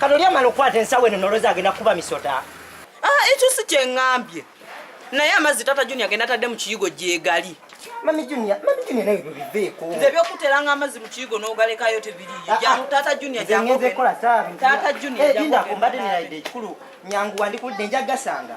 Kanoli amala okukwata ensawo eno nolozi agenda kuba misota. Ah, ekyo si kyengambye. Naye amazzi tata Junior agenda tadde mu kiyigo gyegali. Mami Junior, Mami Junior naye byo biveeko. Nze byokuteranga amazzi mu kiyigo n'ogalekayo tebiriiyo. Ah, ah. Jangu tata Junior jangu. Nze ngenze kola saabi. Tata Junior eh, jangu. Linda kumbadde nirayidde ekikulu nyangu wandikudde nja gasanga.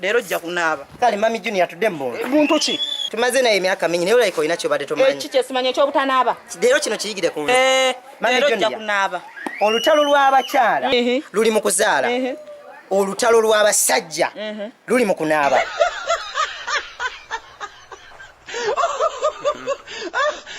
Leero ojja kunaaba. Kale mami Junior tudde mu mbondo. Muntu ki? Tumaze naye emyaka mingi naye olayika olina kyobadde tomanyi. Ekyo eh, kyesimanyi ekyobutanaaba. Leero kino kiyigire ku nze. Eh, mami Junior. Leero ojja kunaaba. Olutalo lw'abakyala luli mu kuzaala. Olutalo lw'abasajja luli mu kunaaba.